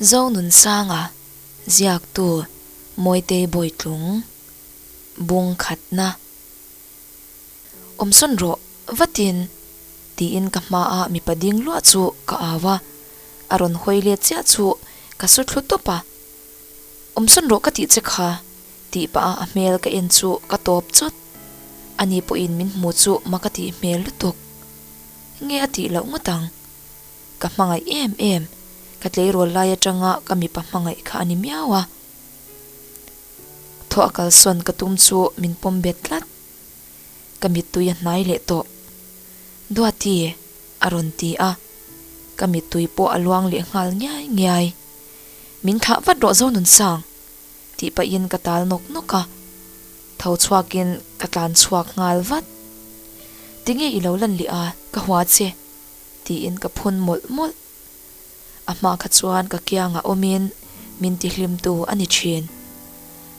Zonunsanga ziaktu Mawitei Bawitlung bung khatna awmsawn rawh vatin tiin ka hma a mipa ding luah chu ka au a, a rawn hawi let chiah chu ka saw thlu tawp a, awmsawn rawh ka tih che kha tih pah a a hmel ka en chu ka tawp chawt, ani pawhin min hmu chu maka tih hmel lutuk. Nge a tih loh ngawt ang? Ka hmangaih em em. Ka tleirual lai atanga ka mipa hmangaih kha a ni miau a. Thaw a kalsawn ka tum chu min pawm bet tlat. Ka mittui a hnai leh tawh. Duati a rawn ti a. Ka mittui pawh a luang leh nghal ngiai ngiai. Min thlah vat rawh Zonunsang. tih pahin ka tal nawk nawk a, tho chhuakin ka tlan chhuak nghal vat. Tinge i lo lan leh a, ka hua che, tiin ka phun mawlh mawlh. A hma kha chuan ka kiangah awmin min ti hlimtu a ni thin.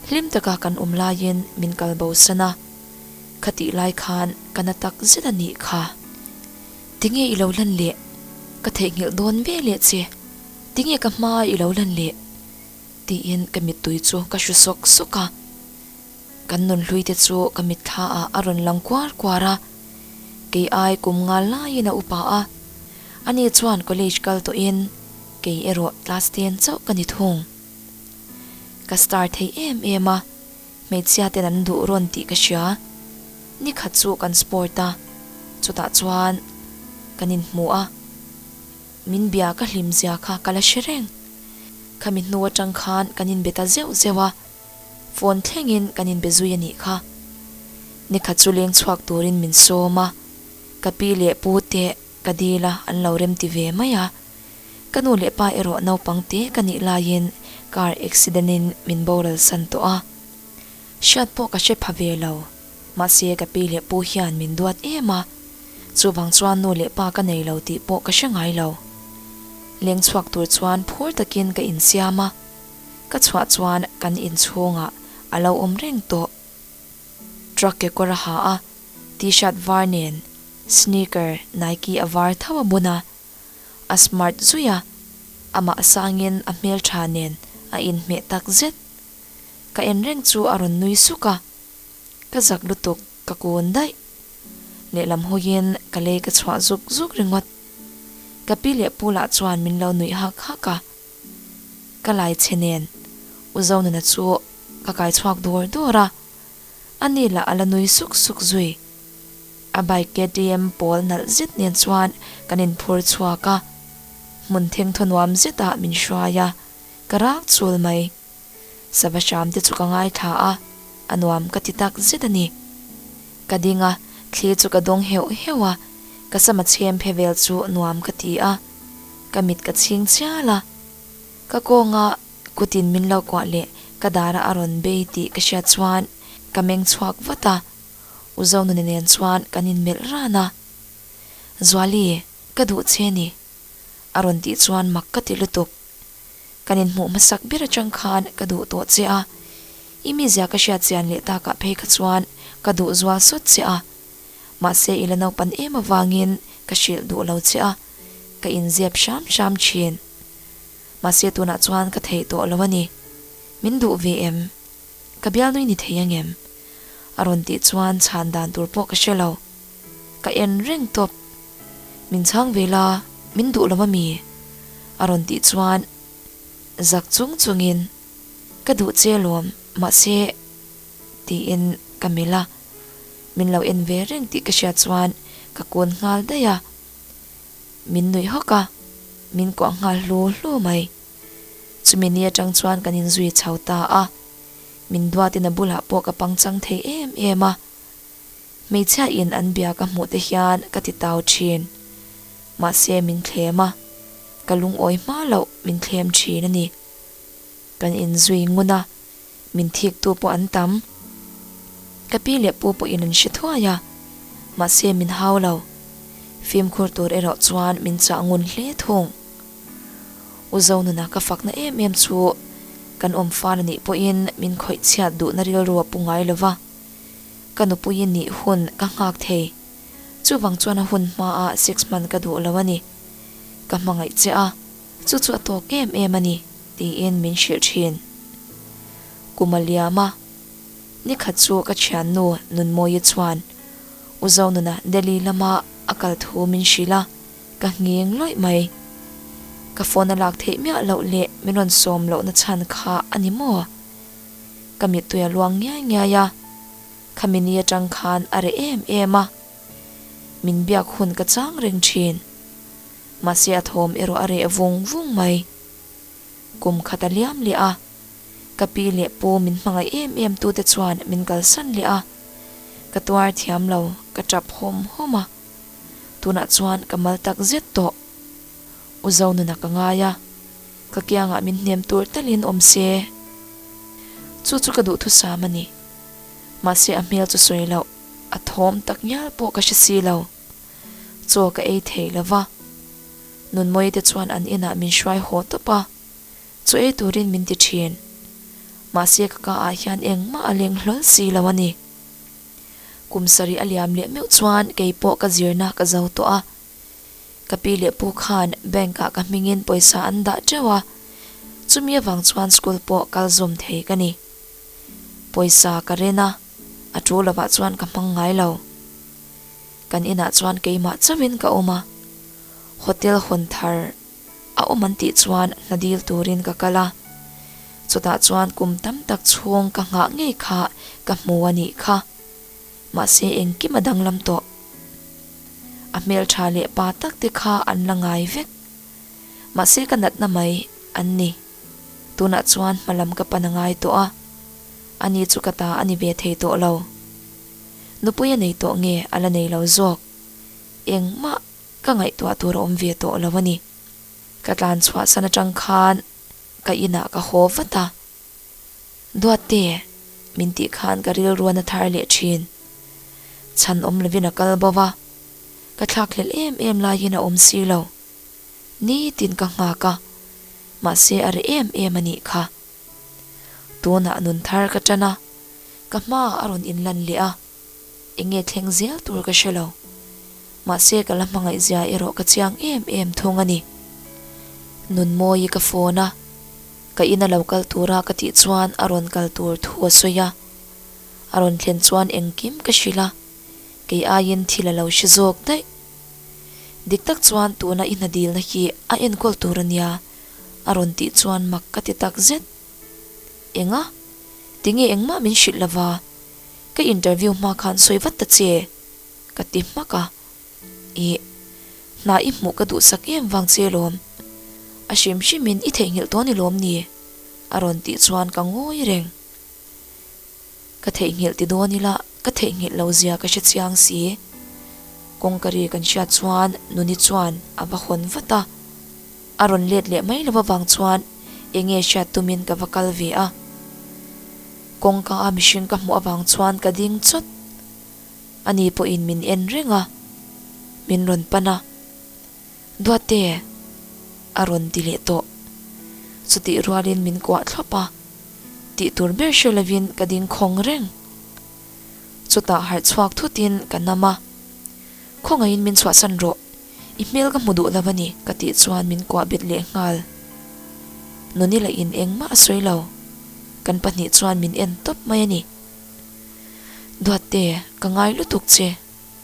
Hlim taka kan awm laiin min kal bo san a, ka tih lai khan ka na tak zet a nih kha. Tinge i lo lan leh? Ka theihnghilh dawn ve leh che. Tinge ka hmaa i lo lan leh? Tiin ka mittui chu ka hru sawk sawk a, kan nun hluite chu ka mitthla ah a rawn lang kuar kuar a, kei ai kum ngal laiin a upa a, ani chuan college kal tawh in kei erawh class ten chauh ka ni thung. Ka star thei em em a, hmeichhia ten an duh rawn tih ka hria, ni khat chu kan sport a, chutah chuan kan in hmu a. Min bia ka hlim zia kha ka la hre reng. Khami hnu atang khan kan inbe ta zeuh zeuh a, phone thlengin kan inbe zui a nih kha. Ni khat chu leng chhuak turin min sawm a, ka pi leh pu te ka dil a an lo remti ve mai a. Ka nu leh pa erawh naupang te ka nih laiin car accident in min boral san tawh a. Hriat pawh ka hre pha ve lo, mahse ka pi leh pu hian min duat em a, chuvang chuan nu leh pa ka nei lo tih pawh ka hre ngai lo. Leng chhuak tur chuan phur takin ka insiam a, ka chhuah chuan kan in chhungah a lo awm reng tawh. Truck kekawr a ha a, t-shirt var nen sneaker Nike a var tho a bun a, a smart zui a, amah sangin a hmeltha nen a inhmeh takzet. ka en reng chu a rawn nui suk a, ka zak lutuk ka kun daih. Lehlam hawiin ka lei ka chhuah zuk zuk ringawt. Ka pi leh pu lah chuan min lo nuih hak hak a. Ka laichhe nen U Zonuna chu ka kai chhuak duar duar a, a ni lah a la nui suk suk zui. A bike KTM pawl nalh zet nen chuan kan in phur chhuak a, hmun thengthaw nuam zetah min hruai a, ka rak chul mai. Sava Shyamte chu ka ngaithla a, a nuam ka ti tak zet a ni. Ka ding a, thli chu ka dawng heuh heuh a, ka sama chhem phe vel chu nuam ka ti a, ka mit ka chhing chial a. Ka kawnga kutin min lo kuah leh ka dara a rawn bei tih ka hriat chuan ka meng chhuak vat a, U Zonuni nen chuan kan inmelh ran a. Zuali, ka duh che ni, a rawn tih chuan mak ka ti lutuk. Kan inhmuh hmasak ber atang khan ka duh tawh che a, i mizia ka hriat chian leh tak ah phei kha chuan ka duh zual sawt che a. Mahse ila naupan em avangin ka hrilh duh lo che a, ka inziap hram hram thin. Mahse tunah chuan ka theih tawh lo a ni. Min duh ve em? Ka bialnui ni thei angem? A rawn tih chuan chhan dan tur pawh ka hre lo. Ka en reng tawp. Min chhang ve la, min duh lawm a mi? A rawn tih chuan zak chung chungin, Ka duh che lawm, mahse, tiin ka melh a. Min lo en ve reng tih ka hriat chuan ka kun nghal daih a. Min nuih hawk a, min kuah nghal hlu hlu mai. Chumi ni atang chuan kan inzui chho ta a, min duatin a bulah pawh ka pangchang thei em em a. Hmeichhia in an bia ka hmuh te hian ka ti tau thin. Mahse min thlem a, ka lungawi hma loh min thlem thin a ni. Kan inzui ngun a. Min thiktu pawh an tam. Ka pi leh pu pawhin an hre thuai a, mahse min hau lo. Fimkhur tur erawh chuan min chah ngun hle thung. U Zonuna ka fakna em em chu kan awm fân a nih pawhin min khawih chhiat duhna rilru a pu ngai lova. Ka nupui nih hun ka nghak thei. Chuvang chuan a hun hmaa six month ka duh lo a ni. Ka hmangaih che a. Chu chu a tawk em em a ni, tiin min hrilh thin. Kumaliama nikhat chu ka thiannu Nunmawia chuan U Zonuna Delhi lama a kal thu min hrilh a, ka ngheng loih mai. Ka phone a lak theih miah loh leh min rawn sawm lohna chhan kha a ni maw? Ka mittui a luang ngiai ngiai a, kha mini atang khan a reh em em a. Min biak hun ka chang reng thin. Mahse a thawm erawh a reh vung vung mai. Kum khat a liam leh a, ka pi leh pu min hmangaih em em tu te chuan min kalsan leh a, ka tuar thiam lo, ka tap hawm hawm a. Tunah chuan ka mal tak zet tawh. U Zonuna ka ngai a, ka kiangah min hnem tur talhin awm se. Chu chu ka duhthusam a ni. Mahse a hmel chu sawi loh, a thawm tak ngial pawh ka hre si lo. chaw ka ei thei lo va, Nunmawii te chuan an inah min hruai haw tawp a, chu ei turin min ti thin. Mahse ka ka ah hian engmah a leng hlawl si lo a ni. Kum sarih a liam leh meuh chuan kei pawh ka zirna ka zo tawh a, ka pi leh pu khan bank ah ka hmingin pawisa an dah teuh a, chumi avang chuan school pawh kal zawm thei ka ni. Pawisa ka ren a. A thu lovah chuan ka hmang ngai lo. Kan inah chuan keimah chauhin ka awm a, hotel hawn thar a awm an tih chuan hna dil turin ka kal a. Chutah chuan kum tam tak chhung ka nghah ngei kha ka hmu a nih kha. Mahse engkim a danglam tawh. A hmeltha leh pa takte kha an la ngai vek. Mahse ka natna mai an ni. Tunah chuan hma lam ka pan a ngai tawh a, ani chu ka ta a ni ve thei tawh lo. Nupui a nei tawh nge a la nei lo zawk? Engmah ka ngaihtuah tur a awm ve tawh lo a ni. Ka tlan chhuahsan atang khan ka inah ka haw vat a. Duatte, min tih khan ka rilruan a thar leh thin. Chhan awm lovin a kal bo va, ka thlak hlelh em em laiin a awm si lo. nitin ka nghak a, mahse a reh em em a nih kha. Tunah nun thar ka tan a, ka hma a rawn inlan leh a, enge thleng zel tur ka hre lo, mahse ka la hmangaihzia erawh ka chiang em em thung a ni. Nunmawii ka phone a, ka in a lo kal tur a ka tih chuan a rawn kal tur thu a sawi a, a rawn thlen chuan engkim ka hrilh a, kei aiin thil a lo hre zawk daih. Dik tak chuan tuna i hna dilna hi a enkawl tur a nia a rawn tih chuan mak ka ti tak zet. Enga? Tinge engmah min hrilh lova, ka interview hma khan sawi vat ta che ka ti hmak a. Ih, hna i hmuh ka duhsak em vang che lawm. A hrim hrimin i theihnghilh tawh ni lawm ni? a rawn tih chuan ka ngawi reng. Ka theihnghilh ti dawn ila, ka theihnghilh lo zia ka hre chiang si. Kawngka ri kan hriat chuan Nuni chuan a va hawn vat a. A rawn let leh mai lo avang chuan eng nge hriat tumin ka va kal ve a. Kawngka a mihring ka hmuh avang chuan ka ding chawt. Ani pawhin min en reng a, min rawn pan a. Duate a rawn ti leh tawh. Chutih rualin min kuah thlawp a, tih tur ber hre lovin ka ding khawng reng. Chutah harh chhuak thutin ka nam a, Khawngaihin min chhuahsan rawh, i hmel ka hmu duh lo a ni, ka tih chuan min kuah bet leh nghal. Nonila in engmah a sawi lo, kan pahnih chuan min en tawp mai a ni. Duate, ka ngai lutuk che.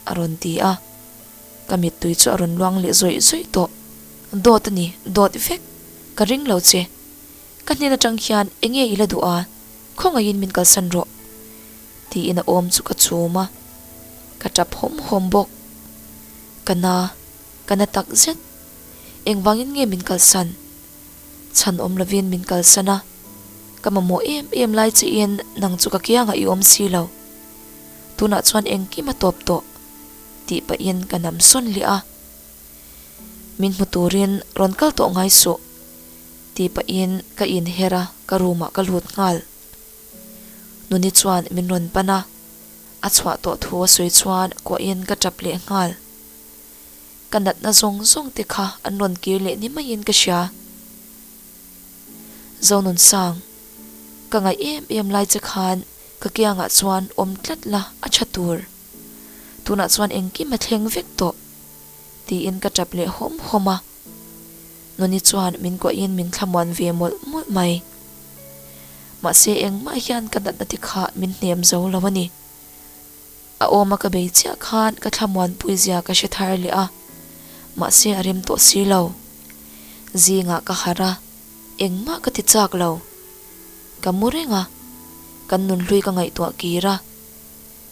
a rawn ti a, ka mittui chu a rawn luang leh zawih zawih tawh, dawt a ni, dawt vek, ka ring lo che, ka hnen atang hian enge i la duh a, khawngaihin min kalsan rawh, tiin a awm chu ka chum a, ka tap hawm hawm bawk, ka na, ka na tak zet, engvangin nge min kalsan? Chhan awm lovin min kalsan a, ka mamawh em em lai che in nang chu ka kiangah i awm si lo. tunah chuan engkim a tawp tawh tih pahin ka nam sawn leh a, min hmu turin rawn kal tawh ngai suh tih pahin ka inher a, ka room ah ka lut nghal. Nuni chuan min rawn pan a, a chhuah tawh thu a sawi chuan kuahin ka tap leh nghal. Ka natna zawng zawng te kha an rawn kir leh ni maiin ka hria. Zonunsang, ka ngaih em em lai che khan ka kiangah chuan awm tlat la a tha tur, tunah chuan engkim a thleng vek tawh tiin ka tap leh hawm hawm a, Noni chuan min kuahin min thlamuan ve mawlh mawlh mai. Mahse engmah hian ka natna te kha min hnem zo lo a ni. A awma ka bei chiah khan ka thlamuanpuizia ka hre thar leh a, mahse a rem tawh si lo. Zingah ka harh a, engmah ka ti chak lo. Ka mu reng a, kan nun hlui ka ngaihtuah kir a,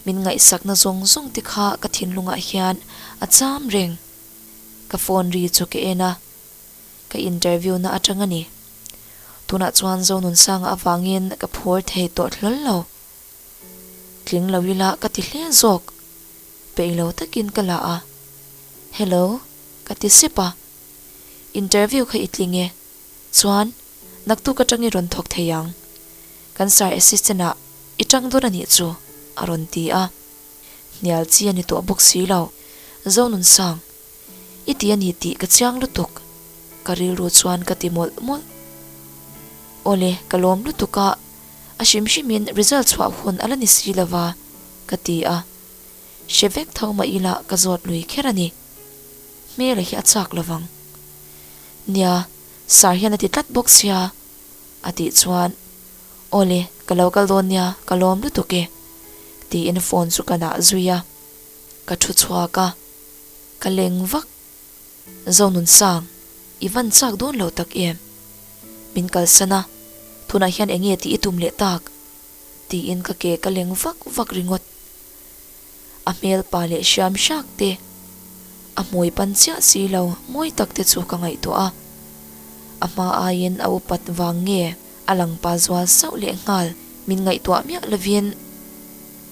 min ngaihsakna zawng zawng te kha ka thinlungah hian a cham reng. Ka phone ri chu ka en a, ka interview na atang a ni. Tunah chuan Zonunsanga avangin ka phur thei tawh hlawl lo. Tling lo ila ka ti hle zawk. Peih lo takin ka la a. Hello, ka ti sip a. Interview kha i tling e. Chuan, naktuk atang i rawn thawk thei ang. Kan sir assistant ah i tang dawn a nih chu, a rawn ti a. Hnial chi a ni tawh bawk si lo. Zonun sang. I ti a ni tih ka chiang lutuk. Ka rilru chuan ka ti mawlh mawlh. Awle, ka lawm lutuk a, a hrim hrimin result chhuah hun a la ni si lo va, ka ti a. Hre vek tho mah ila ka zawt lui kher a ni. Hmela hi a chak lo vang. Nia, Sir hian a ti tlat bawk sia. A tih chuan, Awle, ka lo kal dawn nia, ka lawm lutuk e, tiin phone chu ka nah zui a. Ka thu chhuak a. Ka leng vak. Zonunsang, i van chak dawn lo tak em? Min kalsan a, tunah hian enge tih i tum leh tak? tiin ka ke ka leng vak vak ringawt. A hmelpa leh hriam hriak te, a hmui pan chiah si lo mawi tak te chu ka ngaihtuah a. A hma aiin a upat vang nge a lang pa zual sauh leh nghal min ngaihtuah miah lovin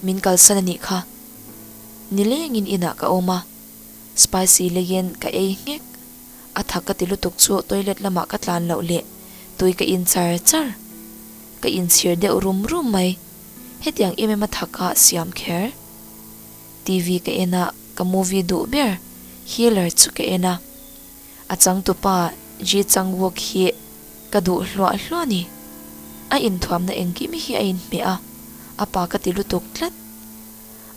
min kalsan a nih kha. Nilengin inah ka awm a, spicy leiin ka ei nghek. A tha ka ti lutuk chu toilet lamah ka tlan loh leh tui ka in char char. Ka inchhir deuh rum rum mai. Hetiang em em a tha ka siam kher. TV ka en a, ka movie duh ber. Healer chu ka en a. A changtupa Ji Changwook hi ka duh hluah hluah ni. A inthuamna engkimi hi a inhmeh a, a pa ka ti lutuk tlat.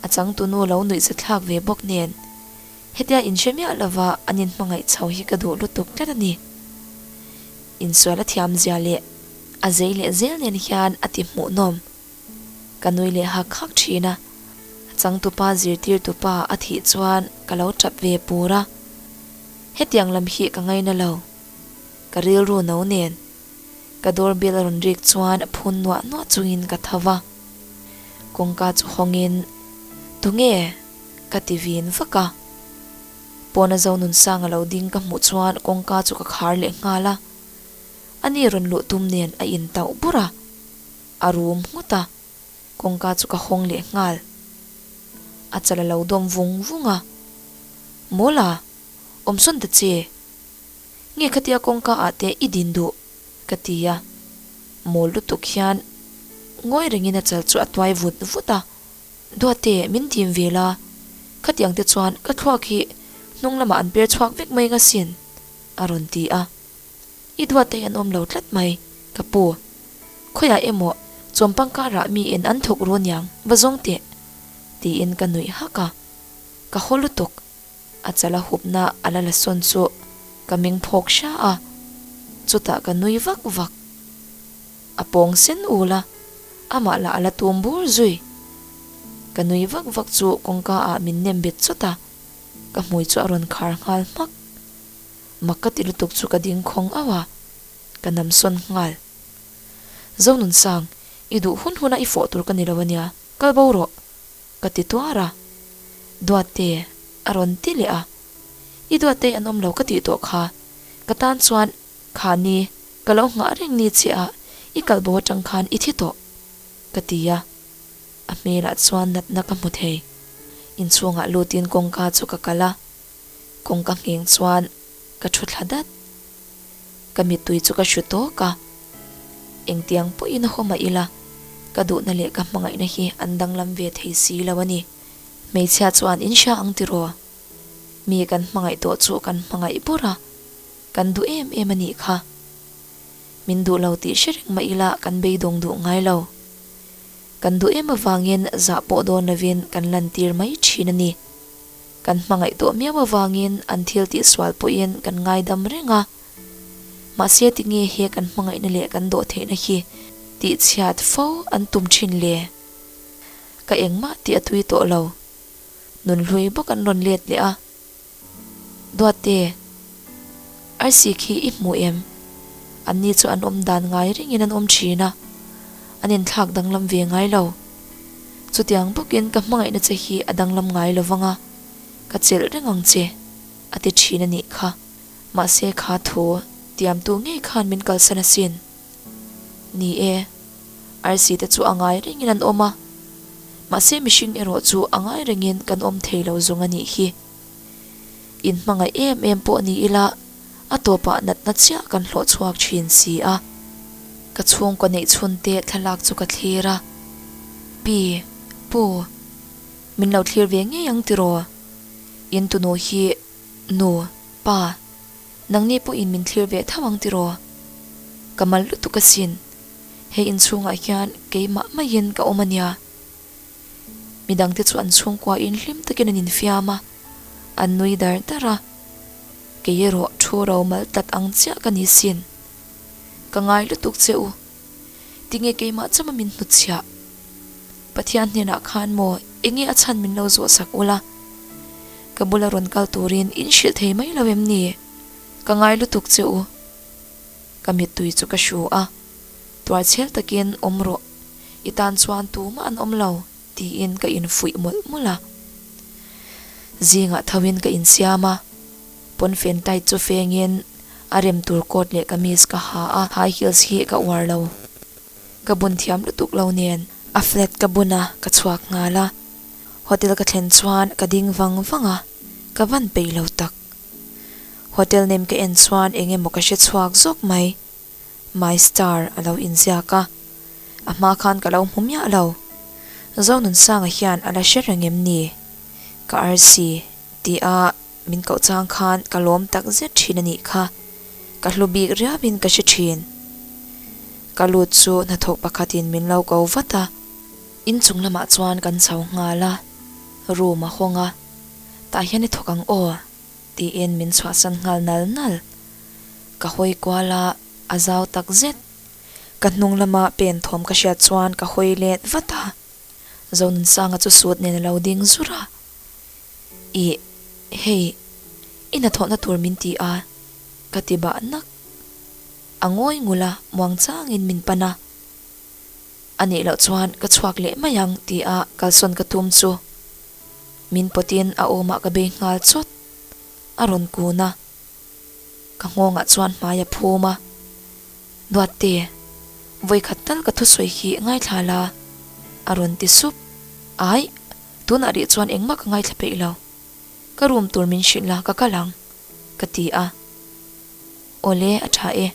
A changtunu lo nuih zathlak ve bawk nen, hetia in hre miah lova an in hmangaih chho hi ka duh lutuk tlat a ni. Insual a thiam zia leh a zei leh zel nen hian a ti hmuhnawm. Ka nui leh hak hak thin a, a changtupa zirtirtu pa a thih chuan ka lo tap ve pur a, hetiang lam hi ka ngaina lo, ka rilru no nen. Ka door bell a rawn rik chuan a phun nuah nuah chungin ka tho va, kawngka chu hawngin Tunge? ka ti vin vak a, pawn a zo nun sang a lo ding ka hmuh chuan kawngka chu ka khar leh nghal a, ani rawn luh tum nen a in tauh bur a. A rum nghut a, kawngka chu ka hawng leh nghal. A chal a lo dawm vung vung a. Mawla, awmsawn ta che. Nge kha tia kawngka ah te i din duh? ka ti a. Mawl lutuk hian ngawi rengin a chal chu a tuai vut vut a. Duate, min dim ve la, khatiang te chuan ka thluak hi hnung lamah an per chhuak vek mai nga sin, a rawn ti a. I duateih an awm lo tlat mai ka pu. Khawiah emaw chuan pangkarah mi en an thawk ru niang va zawng teh tiin ka nuih hak a. Ka haw lutuk. A chal a hupna a la la sawn chu ka meng phawk hra a. Chutah ka nui vak vak. A pawng sen ul a, amah lah a la tum bur zui. Ka nui vak vak chu kawngka ah min nem bet chawt a, ka hmui chu a rawn khar nghal hmak. Mak ka ti lutuk chu ka dingkhawng auh a, ka nam sawn nghal. Zonunsang, i duh hun hun a i fawh tur ka ni lo a nia, kal bo rawh, ka ti tuar a. Duatte a rawn ti leh a, i Duattei an awm lo ka tih tawh kha, ka tan chuan khani ka lo nghah reng ni che a, i kal bo atang khan i thi tawh, ka ti a. A hmelah chuan natna ka hmu thei. Inchhungah lutin kawngka chu ka kal a. kawng ka ngheng chuan ka thu thla dat. Ka mittui chu ka hru tawk a, engtiang pawhin a haw mah ila, ka duhna leh ka hmangaihna hi an danglam ve thei si lo a ni. Hmeichhia chuan in hria ang tiraw? Mi kan hmangaih tawh chu kan hmangaih bawr a, kan duh em em a nih kha. Min duh lo tih hre reng mah ila kan beidawng duh ngai lo. Kan duh em avangin zah pawh dawn lovin kan lantir mai thin a ni. Kan hmangaih tawh miau avangin an thil tihsual pawhin kan ngaidam reng a. Mahse tinge he kan hmangaihna leh kan dawh theihna hi tihchhiat fo an tum thin le? Ka engmah tih a tui tawh lo. Nunhlui bawk an rawn let leh a. Duatte. I see khi i hmuh em? Anni chu an awm dan ngai ringin an awm thin a, an inthlak danglam ve ngai lo. Chutiang bawkin ka hmangaihna che hi a danglam ngai lo vang a, ka chelh reng ang che, a ti thin a nih kha. Mahse kha thu tiamtu ngei khan min kalsan asin. Ni e, I see te chu a ngai rengin an awm a, mahse mihring erawh chu a ngai rengin kan awm thei lo zung a nih hi. In hmangaih em em pawh ni ila a tawpah natna chiah kan hlawh chhuak thin si a. Ka chhungkaw neih chhunte thlalak chu ka thlir a, Pi, Pu, min lo thlir ve ngei ang tiraw? In tunu hi, Nu, Pa, nang ni pawhin min thlir ve tho ang tiraw? Ka mal lutuk asin. He inchhungah hian keimah maiin ka awm ania. Midang te chu an chhungkua in hlim takin an infiam a, an nui dar dar a, Kei erawh thu romal tlat ang chiah ka ni sin. Ka ngai lutuk che u. Tinge keimah cham a min hnutchhiah? Pathian hnenah khan maw eng nge a chhan min lo zawh sak ula? Ka bula rawn kal turin in hrilh thei mai lo em ni? Ka ngai lutuk che u. Ka mittui chu ka hru a. Tuarchhial takin awm rawh, i tan chuan tum an awm lo, tiin ka infuih mawlh mawlh a. Zingah thoin ka insiam a, pawnfen tight chu fengin a rem tur coat leh kamis ka ha a, high heels hi ka uar lo, ka bun thiam lutuk lo nen. A flat ka bun a, ka chhuak nghal a, hotel ka thlen chuan ka ding vang vang a, ka van peih lo tak. Hotel nem ka en chuan eng emaw ka hre chhuak zawk mai. My star a lo inziak a, a hma khan ka lo hmu miah lo. Zonunsanga hian a la hre reng em ni? Ka arsi ti a, min koh chang khan ka lawm tak zet thin a nih kha. Ka hlu bik riau in ka hre thin. Ka lut chu hnathawk pakhat in min lo ko vat a. Inchung lamah chuan kan chho nghal a, room a hawng a, tah hian i thawk ang aw? Tiin min chhuahsan nghal nal nal. Ka hawi kual a, a zau tak zet. Ka hnung lama pen thawm ka hriat chuan ka hawi let vat a. Zonunsanga chu sut nen a lo ding zur a, I hei i hnathawhna tur min ti a, ka ti bah nak. A ngawi ngul a, muang changin min pan a. A nih loh chuan ka chhuak leh mai ang ti a kalsawn ka tum chu min pawt in a awm ah ka bei nghal chawt. A rawn kun a ka nghawng ah chuan hmai a phum a, Nuatte, vawikhat tal ka thusawi hi ngaithla la a rawn ti sup. Ai, tun ah rih chuan engmah ka ngaithla peih lo, ka rum tur min hrilh la ka kal ang ka ti a. Awle a tha e.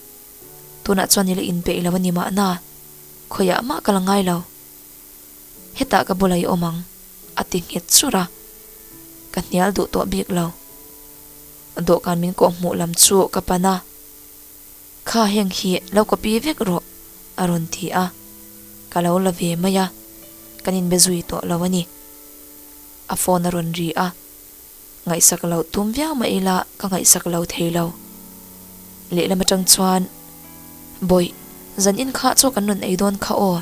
Tunah chuan ila inpeih lo a ni mahna, khawiah mah ka la ngai lo. Hetah ka bula i awm ang, a ti nghet chur a. Ka hnial duh tawh bik lo. Dawhkan min kawh hmuh lam chu ka pan a, Kha heng hi lo kawh pi vek rawh, a rawn ti a. Ka lo la ve mai a, kan inbe zui tawh lo a ni. A phone a rawn ri a. ngaihsak loh tum viau mah ila ka ngaihsak lo thei lo. Lehlam atang chuan, Bawi, zan inkhah chu kan rawn ei dawn kha aw.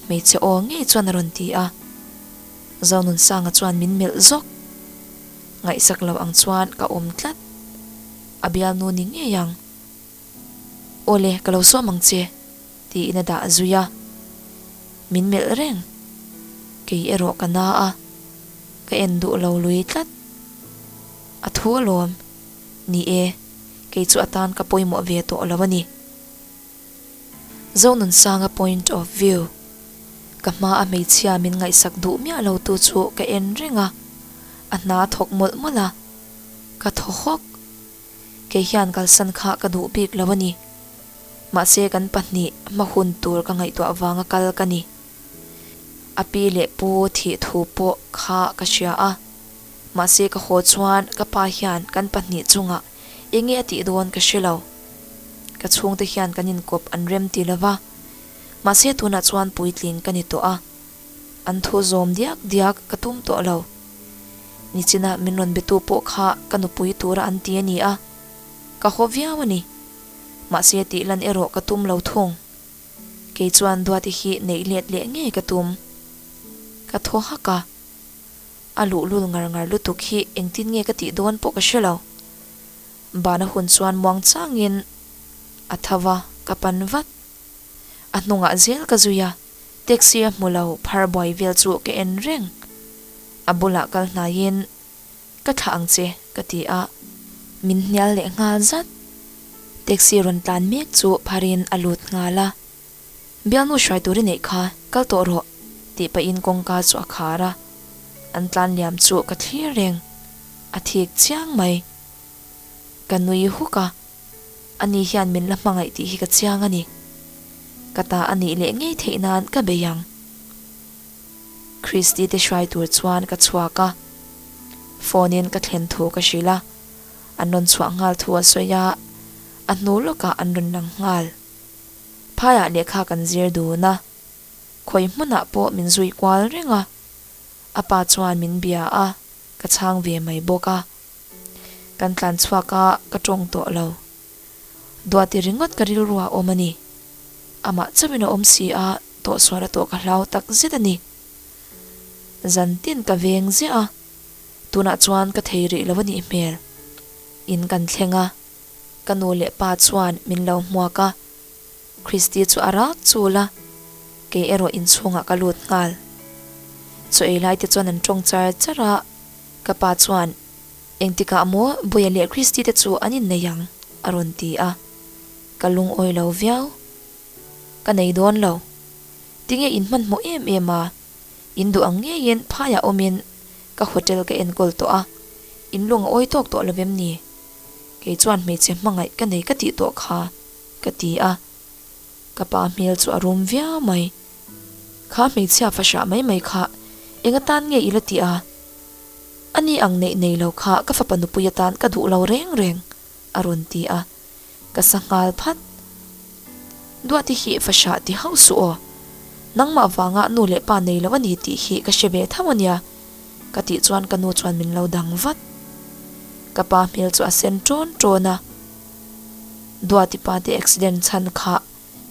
Hmeichhe aw ngei chuan a rawn ti a. Zawnunsaanga chuan min melh zawk. Ngaihsak loh ang chuan ka awm tlat. A bialnu ni ngei ang. Aw le, ka lo suam ang che, tiin a dah zui a. Min melh reng. Kei erawh ka na a, ka en duh lo lui tlat. A thu alawm, Ni e, kei chu a tan ka pawimawh ve tawh lo a ni. Zonunsanga point of view, ka hma a hmeichhia min ngaihsak duh miah lo tu chu ka en reng a, a hna thawk mawlh mawlh a, ka thaw hawk. kei hian kalsan kha ka duh bik lo a ni. Mahse kan pahnih hma hun tur ka ngaihtuah avanga kal ka ni. A pi leh pu thih thu pawh kha ka hria a, mahse ka haw chuan ka pa hian kan pahnih chungah enge a tih dawn ka hre lo. Ka chhungte hian kan inkawp an rem ti lova, mahse tunah chuan puitling ka ni tawh a. An thu zawm diak diak ka tum tawh lo. Nichinah min rawn be tu pawh kha ka nupui tura an ti a ni a, ka haw viau a ni. Mahse tih lan erawh ka tum lo thung. Kei chuan Duati hi neih let leh ngei ka tum. Ka thaw hak a, a luhlul ngar ngar lutuk hi engtin nge ka tih dawn pawh ka hre lo. Bana hun chuan muang changin a tho va, ka pan vat. A hnungah zel ka zui a, taxi a hmu lo phar buai vel chu ka en reng. A bulah kal hnaiin, Ka thlah ang che, ka ti a. Min hnial leh nghal zat. Taxi rawn tlan mek chu pharin a lut nghal a. Bialnu hruai tur i neih kha, kal tawh rawh, tih pahin kawngka chu a khar a. An tlan liam chu ka thlir reng. A thik chiang mai. Ka nui huk a, Ani hian min la hmangaih tih hi ka chiang a ni. Ka ta a nih leh ngei theih nan ka bei ang. Christy te hrai tur chuan ka chhuak a, phone in ka thlen thu ka hrilh a, an rawn chhuah nghal thu a sawi a, a hnu lawkah an rawn lang nghal. Phaiah lehkha kan zir dun a, khawi hmunah pawh min zui kual reng a, a pa chuan min bia a, ka chhang ve mai bawk a. Kan tlan chhuak a, ka tawng tawh lo. Duati ringawt ka rilru a awm a ni. Amah chauhin a awm si a, tawhsual a tawh ka hlau tak zet a ni. Zan tin ka veng ziah a, tunah chuan ka thei rih lo a nih hmel. In kan thleng a, ka nu leh pa chuan min lo hmuak a. Kristi chu a rak chul a, Kei erawh inchhungah ka lut nghal. Chaw ei laite chuan an ṭawng char char a, ka pa chuan, Engtikah maw Bawia leh Kristite chu an innei ang? a rawn ti a. Ka lungawi lo viau. Ka nei dawn lo. Tinge in hmanhmawh em em a, in duh ang ngeiin phaiah awmin ka hotel ka enkawl tawh a, in lung a awi tawk tawh lovem ni? Kei chuan hmeichhe hmangaih ka nei ka tih tawh kha. Ka ti a, ka pa hmel chu a rum viau mai. Kha hmeichhia fahrah mai mai kha enga tan nge ila ti a? A ni ang neih nei lo kha ka fapa nupui atan ka duh lo reng reng, a rawn ti a. Ka sa nghal phat. Duati hi fahrah ti hauh suh aw. Nangmah vanga nu leh pa nei lo a ni tih hi ka hre ve thauh a nia, ka tih chuan ka nu chuan min lo dang vat. Ka pa hmel chu a sen tawn tawn a. Duati pa te accident chhan kha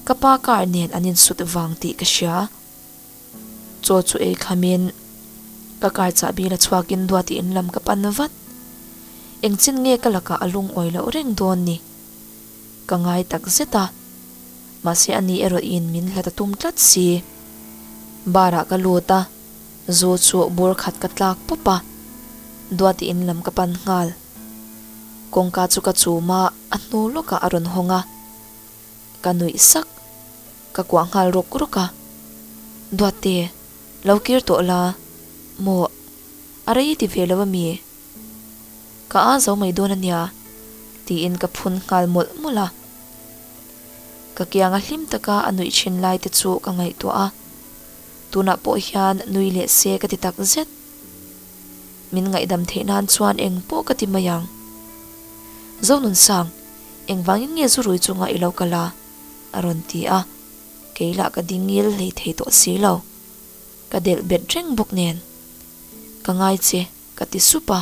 ka pa car nen an insut vang tih ka hria. Chaw chu ei kham in ka car chahbi la chhuak in Duati in lam ka pan vat. Engchin nge ka lakah a lungawi loh reng dawn ni? Ka ngai tak zet a, mahse a nih erawh in min hla ta tum tlat si. Bar ah ka lut a, zu chu bur khat ka tlak pawp a, Duati in lam ka pan nghal. Kawngka chu ka chum a, a hnu lawkah a rawn hawng a. Ka nuih sak, ka kuah nghal rawk rawk a. Duatte, lo kir tawh la, maw a rei ti ve lo a mi? Ka aa zo mai dawn a nia, tiin ka phun nghal mawlh mawlh a. Ka kianga hlim taka a nuih thin lai te chu ka ngaihtuah a, tunah pawh hian nui leh se ka ti takzet. Min ngaihdam theih nan chuan eng pawh ka ti mai ang. Zonunsang, engvangin nge zu rui chunga i lo kal a? a rawn ti a. Kei lah ka dingil hlei thei tawh si lo. Ka delh bet reng bawk nen. Ka ngai che, ka ti sup a.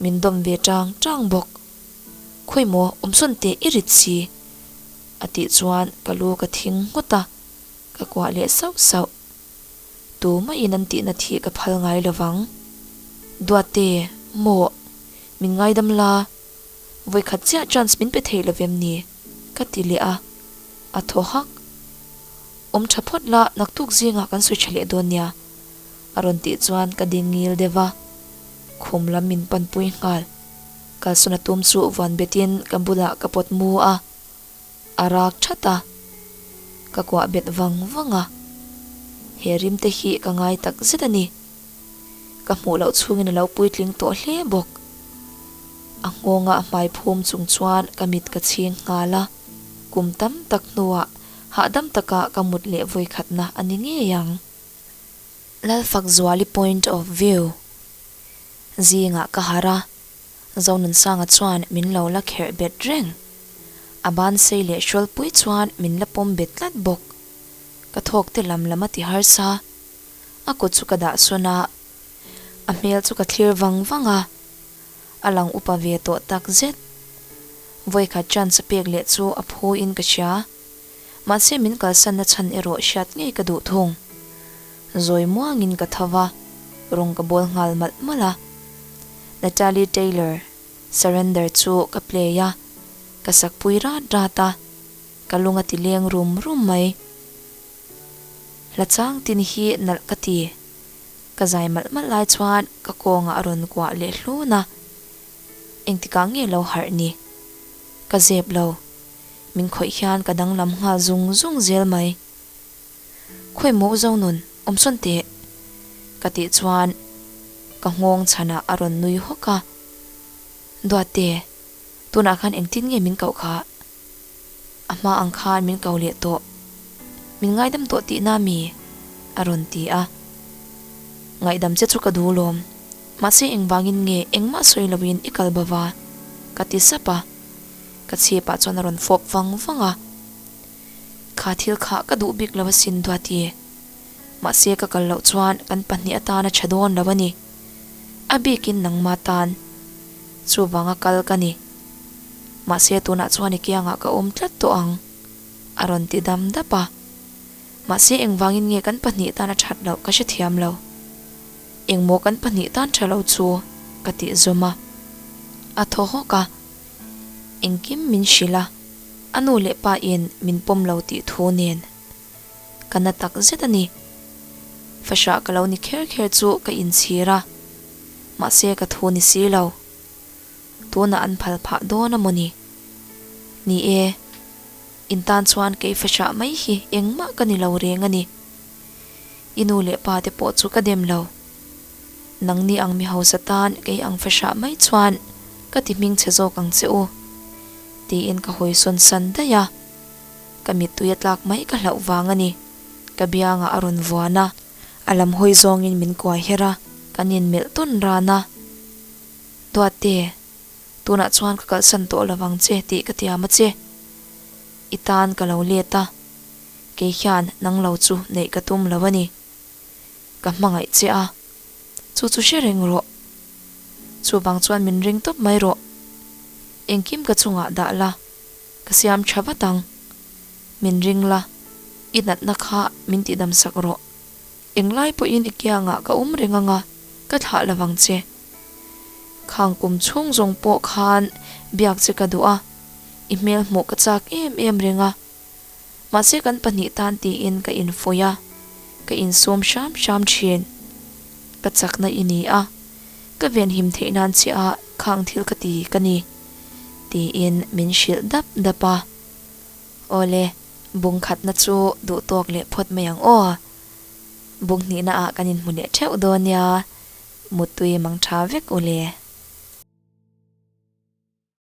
Min dawm ve tang tang bawk. Khawi maw, awmsawn teh i rit si. A tih chuan ka lu ka thing nghut a, ka kuah leh sauh sauh. Tu maiin an tihna thih ka phal ngai lo vang. Duate, Maw, min ngaidam la, vawikhat chiah chance min pe theih lovem ni? ka ti leh a. A thaw hak. Awm tha phawt la, naktuk zingah kan sawi tha leh dawn nia, a rawn tih chuan ka ding ngil deuh va, khum lam min panpui nghal. Kalsawna tum chu vuan betin ka bulah ka pawt mu a, A rak that a, ka kuah bet vang vang a, he rim te hi ka ngai tak zet a ni. Ka hmuh loh chhungin a lo puitling tawh hle bawk. A nghawngah a hmai phum chung chuan ka mit ka chhing nghal a, kum tam tak hnuah hahdam taka ka mut leh vawikhatna a ni ngei ang. Lalfakzuali point of view zingah ka harh a. Zonunsanga chuan min lo la kherh bet reng, a ban sei leh hrualpui chuan min la pawm bet tlat bawk. Ka thawkte lam lam a ti harsa. A kut chu ka dahsawn a, a hmel chu ka thlir vang vang a, a lang upa ve tawh tak zet. Vawikhat chance pek leh chu a phuin ka hria. Mahse min kalsanna chhan erawh hriat ngei ka duh thung. Zawi muangin ka tho va, rawng ka bawl nghal malh malh a. Natalie Taylor, Surrender chu ka play a, ka sakpui rat rat a, ka lung a ti leng rum rum mai. Hla chang tin hi nalh ka ti. Ka zai malh malh lai chuan ka kawngah a rawn kuah leh hlun a. Engtikah nge lo harh ni? Ka zep lo, min khawih hian ka danglam nghal zung zung zel mai. Khawi maw zo nun, awmsawn teh, ka tih chuan ka nghawng chhanah a rawn nui hawk a. Duatte, tunah khan engtin nge min koh kha? A hma ang khan min ko leh tawh, min ngaidam tawh tih na mi? a rawn ti a. Ngaihdam che chu ka duh lawm, mahse engvangin nge engmah sawi loin i kal bava? ka ti sap a. Ka chhip ah chuan a rawn fawp vang vang a, kha thil khah ka duh bik lo a sin Duati e, mahse ka kal loh chuan kan pahnih atan a tha dawn lo a ni, a bik in nangma tan chuvang a kal ka ni, mahse tunah chuan i kiang ah ka awm tlat tawh ang a rawn ti dam dap a, mahse engvang in nge kan pahnih tan a that loh ka hre thiam lo, engmaw kan pahnih tan tha lo chu ka tih zawm a, a thaw hawk a. Engkim min hrilh a, a nu leh pa in min pawm lo tih thu nen ka na tak zet a ni. Fahrah ka lo ni kher kher chu ka inchhir a, mahse ka thu ni si lo. Tunah an phal phah dawn a maw ni? Ni e, in tan chuan kei fahrah mai hi engmah ka ni lo reng a ni. I nu leh pa te pawh chu ka dem lo. Nang nih ang mi hausa tan kei ang fe hrah mai chuan ka ti hming chhe zawk ang che u, tiin ka hawi sawn san daih a, ka mittui a tlak mai ka hlauh vang a ni, ka biangah a rawn vuan a, a lam hawi zawngin min kuai her a, kan inmelh tawn ran a, Duatte, tunah chuan ka kalsan tawh lo vang che tih ka tiam a che, i tan ka lo let a, kei hian nang lo chu neih ka tum lo a ni, Ka hmangaih che a, chu chu hre reng rawh. Chuvang chuan min ring tawp mai rawh. Engkim ka chungah dah la, ka siam tha vat ang. Min ring la, i natna kha min tihdamsak rawh. Englai pawhin i kiangah ka awm reng anga ka thlah lovang che. Khang kum chhung zawng pawh khan biak che ka duh a, i hmelhmuh ka chak em em reng a. Mahse kan pahnih tan tiin ka infawi a, ka insawm hram hram thin. Ka chakna i ni a, ka venhim theih nan chiaha khang thil ka ti ka ni, tiin min hrilh dap dap a. Aw le, bung khatna chu duhtawk leh phawt mai ang aw a, bung hnihna ah kan inhmu leh theuh dawn nia, mutui mangtha vek u le.